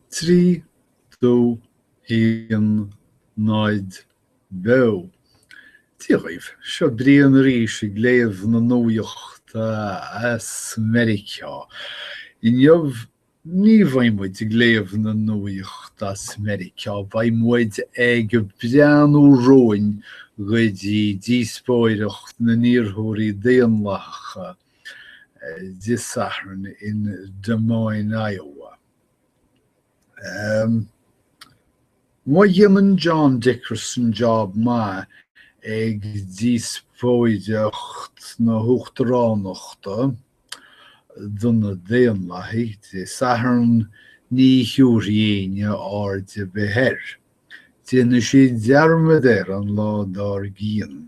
3, 2, 1, 0, beo! Dia dhaoibh, seo Brian arís ag léamh na nuaíocht as Meiriceá. Inniu ní bheidh muid ag léamh na nuaíocht as Meiriceá, beidh muid ag breathnú romhainn go dtí díospóireacht na n-iarrthóirí Daonlathacha Dé Sathairn in Des Moines, Iowa. Má dhéanann John Dickerson job maith ag díospóireacht na huachtaránachta do na Daonlathaigh Dé Sathairn ní thiúrfaidh éinne aird ar bith air. Déanfaidh siad dearmad air an lá dár gcionn.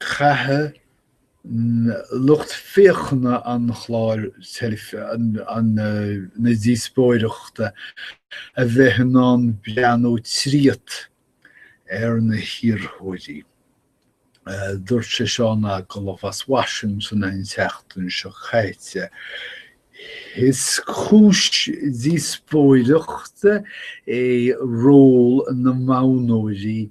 Caithfidh lucht féachana an chláir na díospóireachta a bheith in ann breathnú tríot ar na hiarrthóirí. Dúirt sé seo in agallamh as Washington an tseachtain seo caite, Is cúis díospóireachta é ról na modhnóirí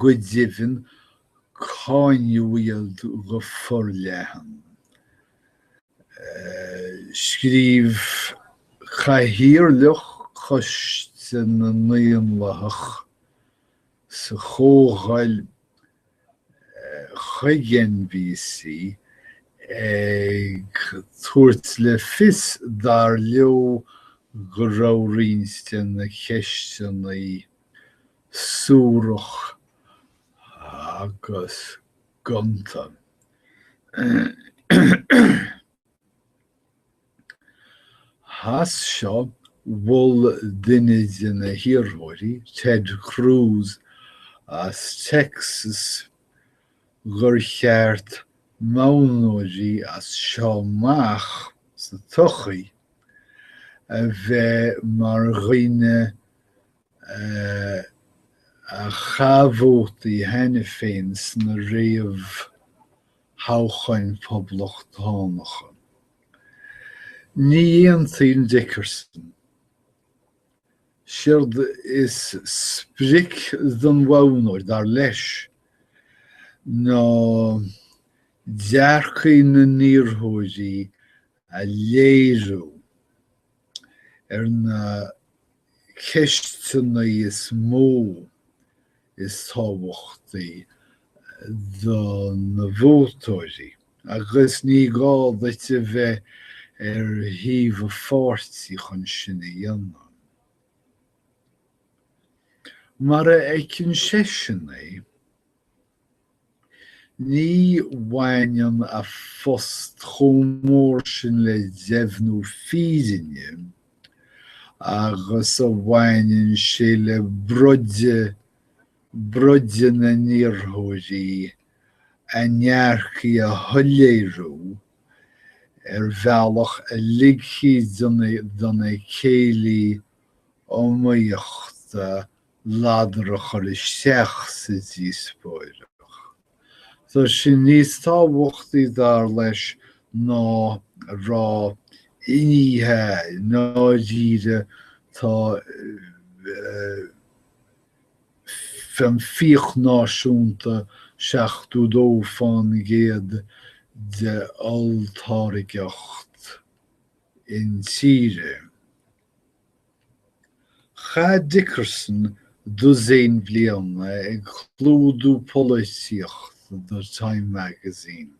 Go deimhin, cáineadh iad go forleathan. Scríobh cathaoirleach Choiste na nDaonlathach sa Chomhdháil chuig NBC ag tabhairt le fios, dar leo, go raibh roinnt de na ceisteanna a. suarach agus gonta. As seo, mhol duine de na hiarrthóirí, Ted Cruz as Texas, gur cheart modhnóirí as seo amach sa todhchaí a bheith mar dhaoine a chaith vótaí cheana féin sna réamhthoghcháin phoblachtánacha. Ní aontaíonn Dickerson. Séard is sprioc don mhodhnóir, dar leis, ná dearcthaí na n-iarrthóirí a léiriú. Ar na ceisteanna is mó is tábhachtaí do na vótóirí, agus ní gá duit a bheith ar thaobh aon pháirtí chun sin a dhéanamh, mar a fheiceann seisean é, Ní bhaineann a phost chomh mór sin le deimhniú fírinne agus a bhaineann sé le broideadh, broideadh na n-iarrthóirí, a ndearcthaí a shoiléiriú ar bhealach a ligfidh do na céilí iomaíochta ladar a chur isteach sa díospóireacht. Tá sin níos tábhachtaí, dar leis, ná a rá ní hea, i ndáiríre tá an fiach náisiúnta 72 fán gcéad de olltáirgeacht intíre. Chaith Dickerson dosaen bliana ag clúdú polaitíocht do Time Magazine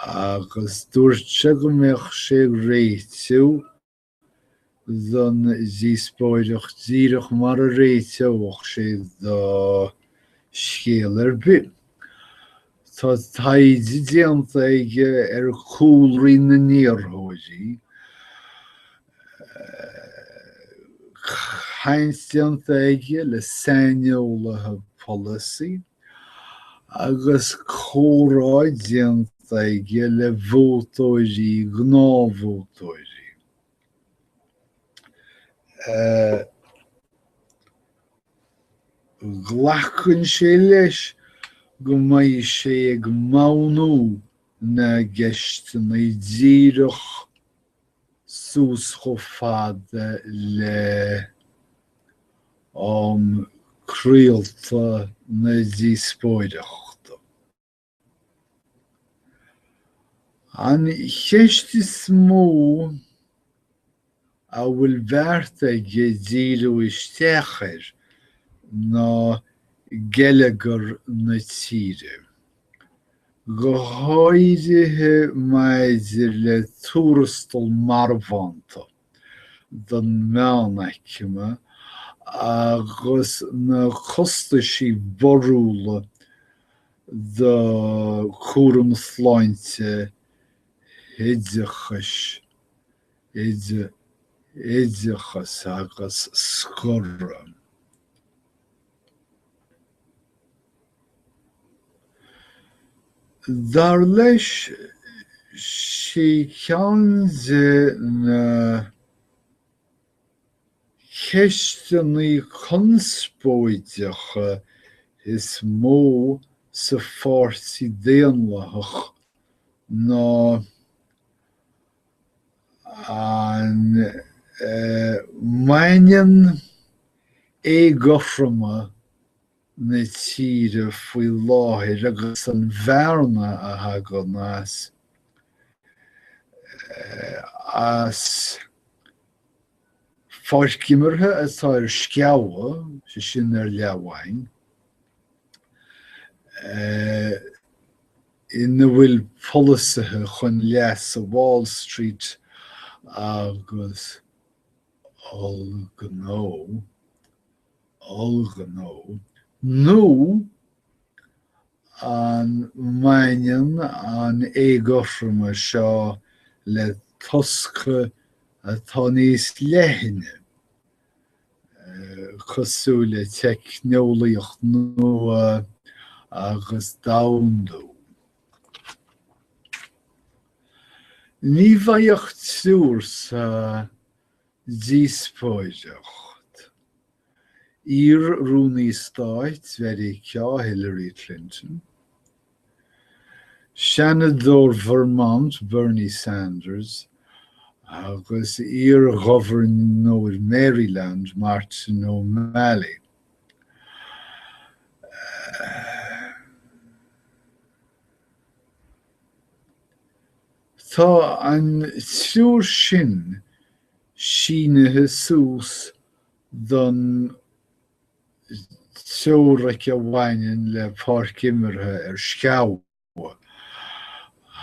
agus dúirt sé go mbeadh sé ag réiteadh don díospóireacht díreach mar a réiteodh sé do scéal ar bith. Tá taighde déanta aige ar chúlraí na n-iarrthóirí, caint déanta aige le saineolaithe polasaí agus comhrá déanta aige le vótóirí, gnáthvótóirí. Glacann sé leis go mbeidh sé ag modhnú na gceisteanna díreach suas chomh fada le am craolta na díospóireachta. An cheist is mó a bhfuil beartaithe aige díriú isteach air ná geilleagar na tíre, go háirithe maidir le tuarastal marbhánta. don mheánaicme agus na costaisí borrúla do chúram sláinte oideachais, oideachas agus scoradh. Dar leis, 'sí ceann de na ceisteanna conspóideacha is mó sa Pháirtí Daonlathach ná an mbaineann éagothroime na tíre faoi láthair agus an bhearna a thagann as as pháirc imeartha atá ar sceabha, sé sin ar leathmhaing, ina bhfuil polasaithe chun leas Wall Street agus ollghnó. ollghnó, nó an mbaineann an éagothroime seo le tosca atá níos leithne, cosúil le teicneolaíocht nua agus domhandú? Ní bheidh ach triúr sa Díospóireacht. Iar-Rúnaí Stáit Mheiriceá Hillary Clinton, Seanadóir Vermont Bernie Sanders agus iar-Ghobharnóir Maryland Martin O'Malley. Tá an triúr sin sínithe suas don teoiric a bhaineann le páirc imeartha ar sceabha,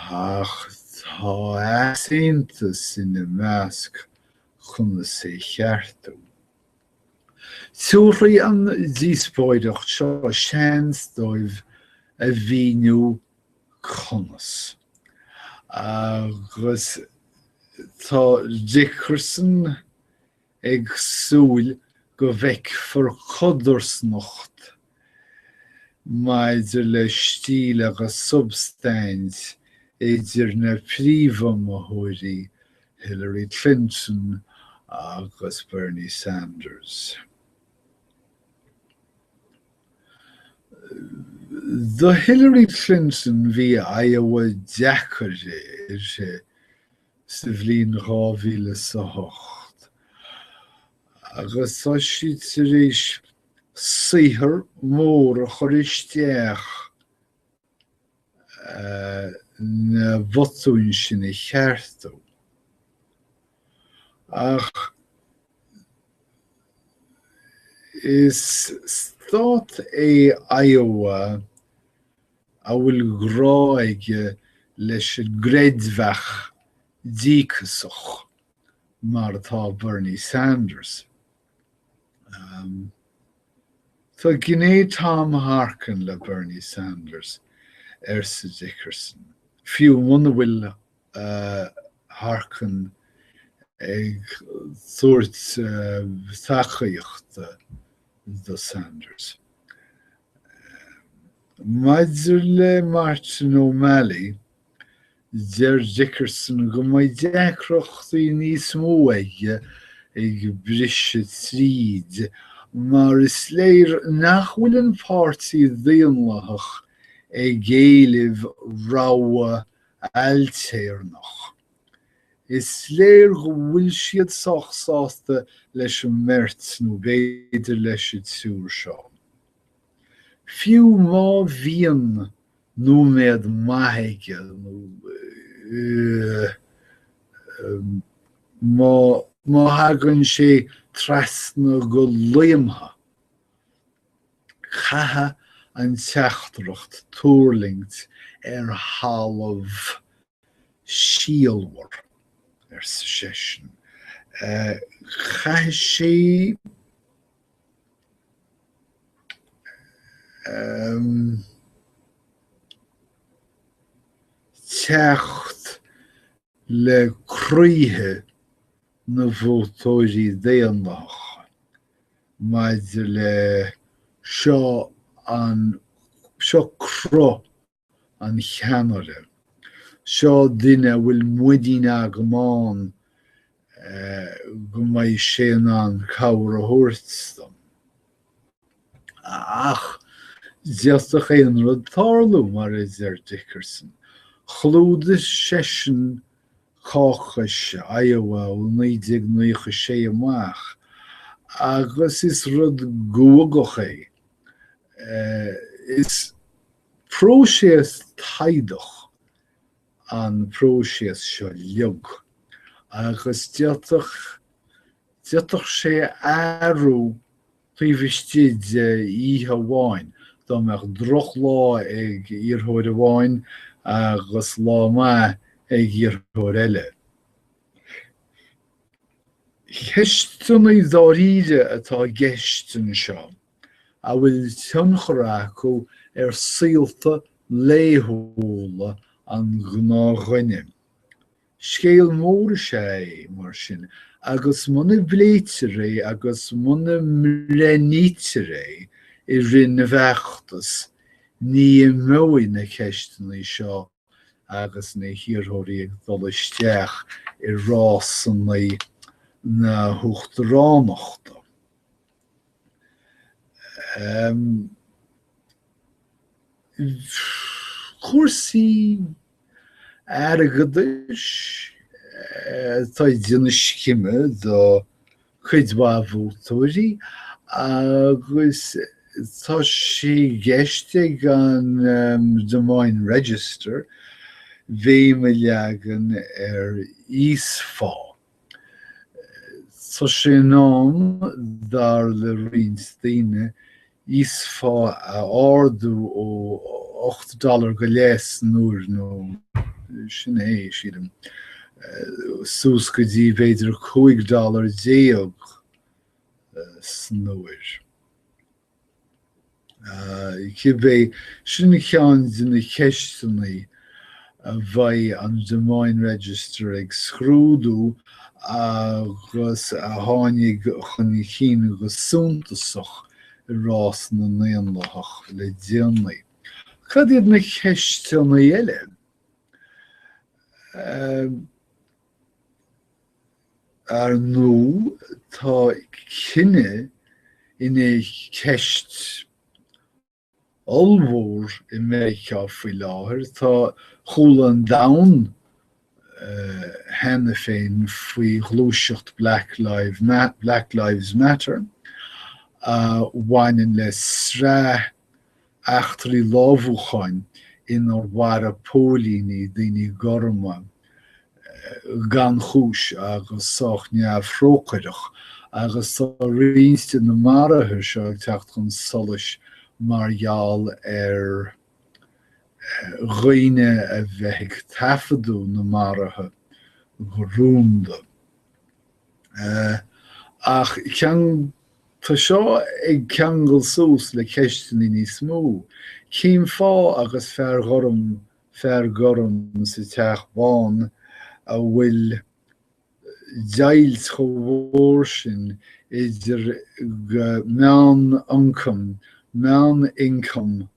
ach tá easaontas ina measc conas é a cheartú. Tabharfaidh an díospóireacht seo seans dóibh a mhíniú conas. Agus tá Dickerson ag súil go bhfeicfear codarsnacht maidir le stíl agus substaint idir na príomhiomaitheoirí, Hillary Clinton agus Bernie Sanders. Do Hillary Clinton bhí Iowa deacair uirthi sa bhliain 2008 agus tá sí tar éis saothar mór a chur isteach na bhotúin sin a cheartú. Ach is stát é Iowa a bhfuil grá aige leis an gcreidmheach díocasach, mar atá Bernie Sanders. Tá gné Tom Harkin le Bernie Sanders, arsa Dickerson, fiú muna bhfuil Harkin ag tabhairt tacaíochta do Sanders. Maidir le Martin O'Malley, deir Dickerson go mbeidh deacrachtaí níos mó aige ag briseadh tríd mar is léir nach bhfuil an Páirtí Daonlathach ag éileamh rogha ailtéarnach. Is léir go bhfuil siad sách sásta leis an mbeirt nó b'fhéidir leis an triúr seo. Fiú má bhíonn nóiméad maith aige nó má thagann sé trasna go laomtha, Caithfidh an teachtaireacht tuirlingt ar thalamh síolmhar, arsa seisean. Caithfidh sí teacht le croíthe na vótóirí Daonlathacha, maidir le seo an seo cruth an cheannaire, seo duine a bhfuil muinín agam ann go mbeidh sé in ann cabhair a thabhairt dom. Ach d'fhéadfadh aon rud tarlú. Mar a deir Dickerson, chlúdaigh seisean Caucus Iowa ó 1996 amach, agus is rud guagach é. Is próiséas taghdach an próiséas seo leo, agus d'fhéadfadh sé athrú taobh istigh d'oíche amháin, dá mbeadh drochlá ag iarrthóir amháin agus lá maith ag iarrthóir eile. Ceisteanna dáiríre atá i gceist anseo a bhfuil tionchar acu ar saolta laethúla an ghnáthdhuine. Scéal mór is ea é, mar sin, agus muna bpléitear é agus muna mbreithnítear é i rith na bhfeachtas, ní imeoidh na ceisteanna seo agus na hiarrthóirí ag dul isteach i rásanna na huachtaránachta. Cúrsaí airgeadais atá ag déanamh scime do chuid mhaith vótóirí agus tá sé i gceist ag an Des Moines Register béim a leagan ar íosphá. Tá sé in am, dar le roinnt daoine, íosphá a ardú ó ocht dollar go leith san uair, nó sin é, sílim, suas go dtí b'fhéidir cúig dollar déag san uair. Cibé, sin ceann de na ceisteanna a bheidh an Des Moines Register ag scrúdú agus a tháinig chun cinn go suntasach i rás na nDaonlathach le déanaí. Cad iad na ceisteanna eile? Ar ndóigh, tá cine ina cheist ollmhór i Meiriceá faoi láthair. Tá chuala an domhan cheana féin faoi ghluaiseacht Black Lives Matter a bhaineann le sraith eachtraí lámhúcháin inar mharaigh póilíní daoine gorma gan chúis agus sách neamhthrócaireach agus tá roinnt de na maruithe seo ag teacht chun solais mar gheall ar dhaoine a bheith ag taifeadadh na maruithe go rúnda. Ach cén Tá seo ag ceangal suas le ceisteanna níos mó, cén fáth agus fear gorm fear gorm sa Teach Bán a bhfuil deighilt chomh mhór sin idir meán-ioncam meán-income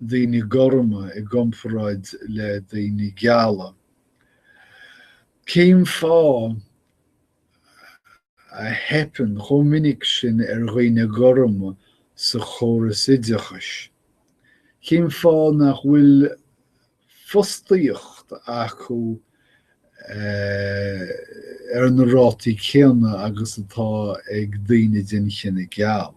daoine gorma i gcomparáid le daoine geala? Cén fáth? a theipeann chomh minic sin ar dhaoine gorma sa chóras oideachais? Cén fáth nach bhfuil fostaíocht acu ar na rátaí céanna agus atá ag daoine den chine geal?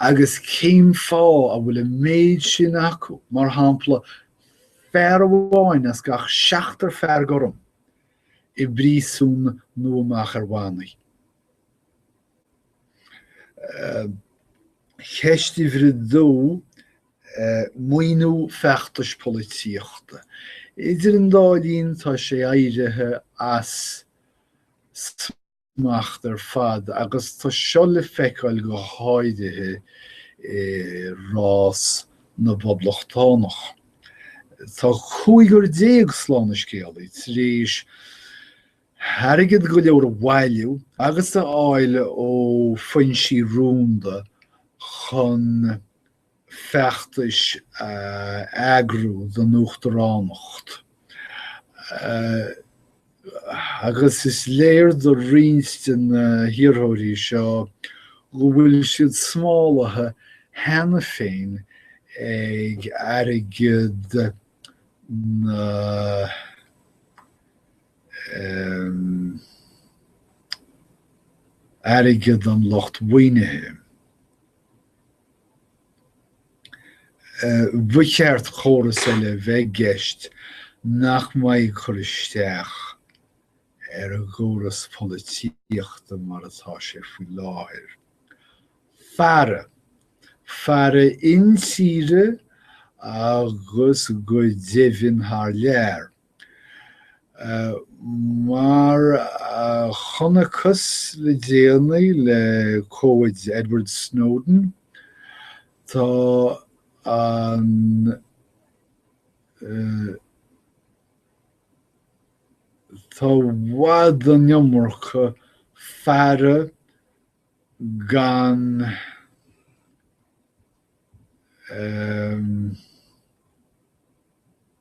Agus cén fáth a bhfuil an méid sin acu, mar shampla, fear amháin as gach seachtar fear gorm, i bpríosún nó amach ar bhannaí. Ceist uimhir a dó, maoiniú feachtais polaitíochta. Idir an dá linn, tá sé éirithe as smacht ar fad agus tá seo le feiceáil go háirithe i rás na bpoblachtánach. Tá cúigear déag slán sa scéal tar éis airgead go leor a bhailiú agus a fháil ó foinsí rúnda chun feachtais a eagrú don uachtaránacht agus is léir de roinnt de na hiarrthóirí seo go bhfuil siad smálaithe cheana féin ag airgead na airgead an lucht mhaoinithe. ba cheart córas eile bheith i gceist nach mbeidh ag cur isteach ar an gcóras polaitíochta mar atá sé faoi láthair. Faire. Faire intíre agus go deimhin thar lear. Mar a chonacthas le déanaí le comhaid Edward Snowden, tá an Tá i bhfad an iomarca faire gan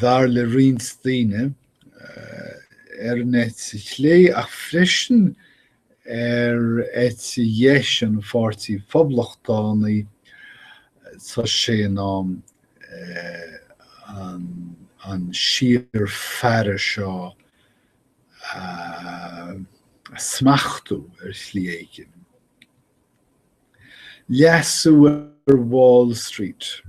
dar le roinnt daoine, ar an eite chlé ach freisin ar eite dheis an Pháirtí Phoblachtánaigh, tá sé in am an síor faire seo a smachtú ar shlí éigin. Leasú ar Wall Street.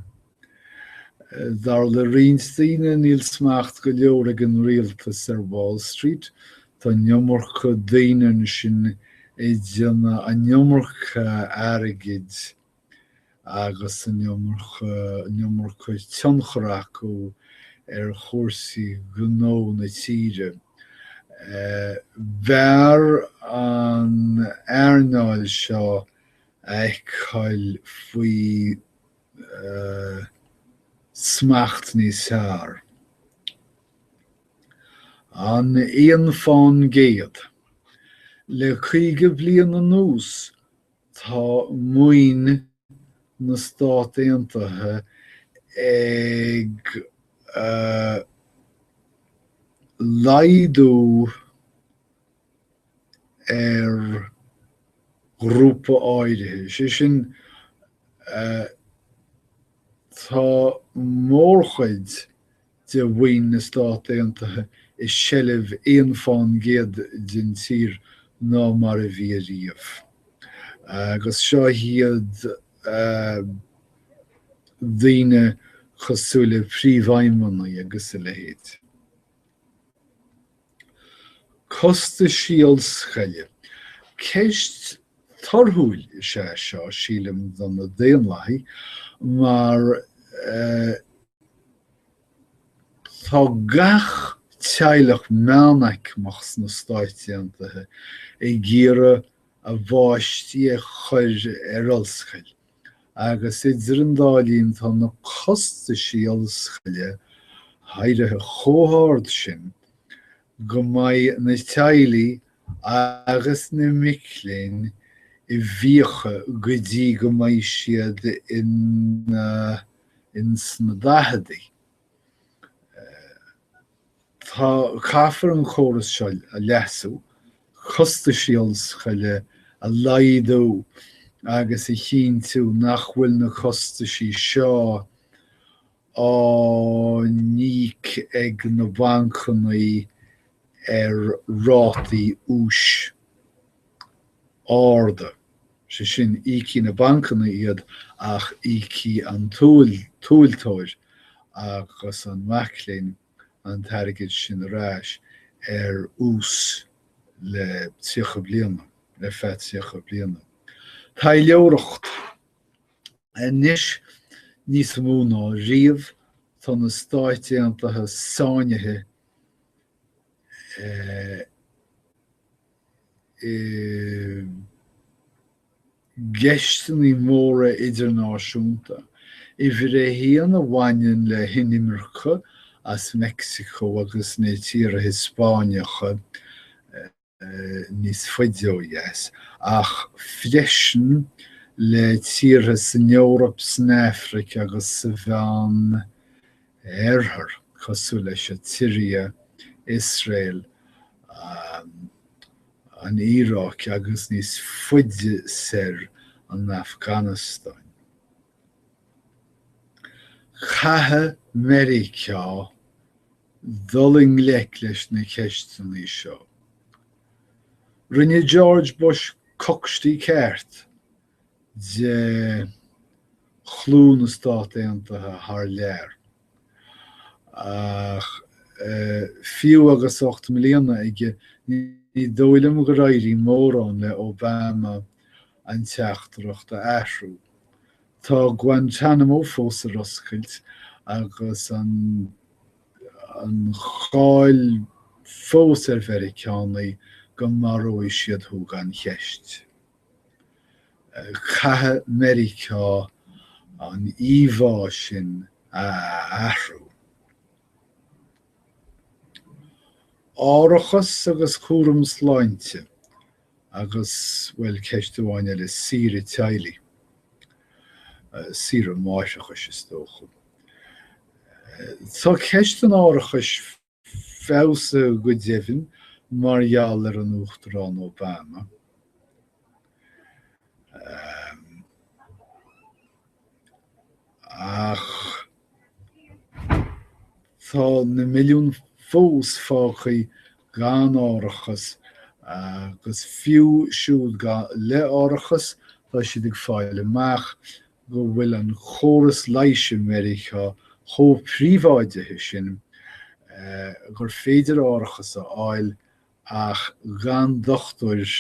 Dar le roinnt daoine, níl smacht go leor ag an rialtas ar Wall Street. Tá an iomarca daoine ansin ag déanamh an iomarca airgid agus an iomarca, an iomarca tionchair acu ar chúrsaí gnó na tíre. B'fhearr an earnáil seo a fheiceáil faoi smacht níos fearr. An t-aon fán gcéad? Le caoga bliain anuas Tá maoin na Stát Aontaithe ag laghdú ar ghrúpa áirithe, sé sin tá mórchuid de mhaoin na Stát Aontaithe i seilbh aon fán gcéad den tír ná mar a bhí ariamh. Agus seo iad daoine cosúil le príomhfheidhmeannaigh agus a leithéid. Costaisí ollscoile. Ceist torthúil is ea seo, sílim, do na Daonlathaigh, mar tá gach teaghlach meánaicmeach sna Stáit Aontaithe ag iarraidh a bpáistí a chur ar ollscoil agus idir an dá linn tá na costaisí ollscoile éirithe chomh hard sin go mbeidh na teaghlaigh agus na mic léinn i bhfiacha go dtí go mbeidh siad in ins na daicheadaí. Tá, caithfear an córas seo a leasú, costaisí ollscoile a laghdú agus a chinntiú nach bhfuil na costaisí seo á n-íoc ag na bancannaí ar rátaí úis. arda, sé sin, íocfaidh na bancanna iad ach íocfaidh an tomhaltóir agus an mac léinn an t-airgead sin ar ais ar ús le tríocha bliana, le feadh tríocha bliana. Taidhleoireacht Anois níos mó ná riamh tá na Stáit Aontaithe sáinnithe i. i gceisteanna móra idirnáisiúnta, uimhir a haon a bhaineann le hinimirce as Meicsiceo agus na tíortha Hispeánacha níos faide ó dheas, ach freisin le tíortha san Eoraip, san Afraic agus sa Mheán Oirthear, cosúil leis an tSiria, Iosrael, an Iaráic agus níos faide soir an Afganastáin. Caithfidh Meiriceá dul i ngleic leis na ceisteanna seo. Rinne George Bush cocstí ceart de chlú na Stát Aontaithe thar lear. Ach fiú agus ocht mbliana aige, ní dóigh liom gur éirigh mórán le Obama an teachtaireacht a athrú. Tá Guantanamo fós ar oscailt agus an cháil fós ar Mheiriceánaigh go maróidh siad thú gan cheist. Caithfidh Meiriceá an íomhá sin a athrú. Árachas agus cúram sláinte agus, bhuel, ceist amháin eile, saoire teaghlaigh. Saoire máithreachais, is dócha. Tá ceist an árachais feabhas go deimhin mar gheall ar an Uachtarán Obama. Ach tá na milliúin fós fágtha gan árachas agus fiú siúd le árachas tá siad ag fáil amach go bhfuil an córas leighis i Meiriceá chomh príobháidithe sin gur féidir árachas a fháil ach gan dochtúir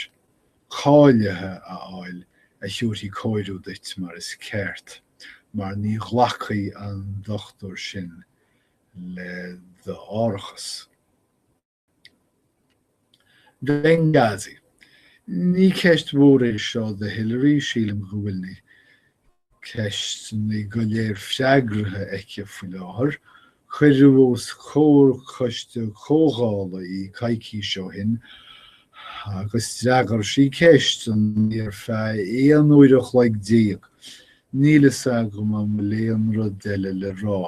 cáilithe a fháil a thabharfaidh cóir duit mar is ceart mar ní ghlacfaidh an dochtúir sin le d'árachas. Benghazi. Ní ceist mhór é seo do Hillary, sílim go bhfuil na ceisteanna go léir freagraithe aici faoi láthair. Cuireadh os comhair coiste comhdhála í coicís ó shin agus d'fhreagair sí ceisteanna ar feadh aon uair an chloig déag. Níl a fhios agam an bhfuil aon rud eile le rá.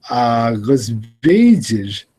Agus b'fhéidir go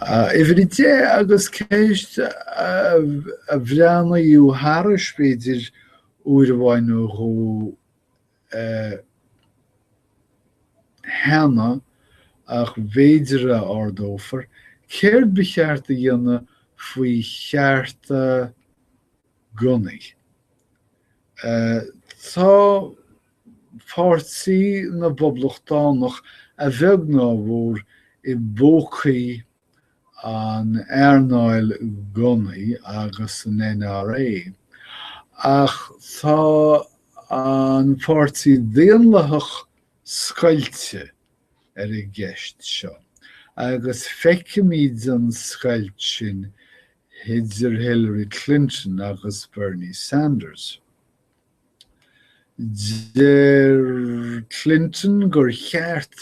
Uimhir a deich, agus ceist a breathnaíodh thairis, b'fhéidir, uair amháin nó dhó cheana, ach b'fhéidir a ardófar, céard ba cheart a dhéanamh faoi chearta gunnaí? Tá. Páirtí na bPoblachtánach a bheag ná a mhór i bpócaí an earnáil gunnaí agus an NRA, ach tá an Páirtí Daonlathach scoilte ar an gceist seo, agus feicimid an scoilt sin idir Hillary Clinton agus Bernie Sanders. Deir Clinton gur cheart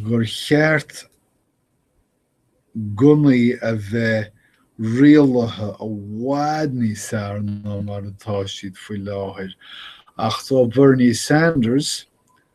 gur cheart gunnaí a bheith rialaithe i bhfad níos fearr ná mar atá siad faoi láthair, ach tá Bernie Sanders,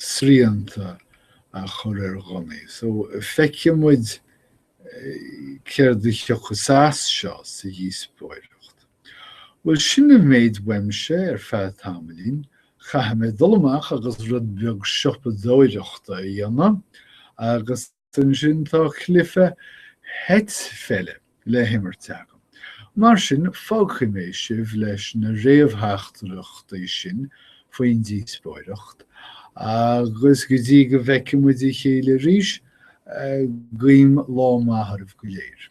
srianta a chur ar ghunnaí. So feicfidh muid céard a thiocfas as seo sa dhíospóireacht. Bhuel sin an méid uaimse ar feadh tamaillín. Caithfidh mé dul amach agus rud beag siopadóireachta a dhéanamh agus Ansin tá cluiche eitpheile le himirt agam. Mar sin, fágfaidh mé sibh leis na réamhtheachtaireachtaí sin faoin díospóireacht, agus go dtí go bhfeicimid a chéile arís, guím lá maith oraibh go léir.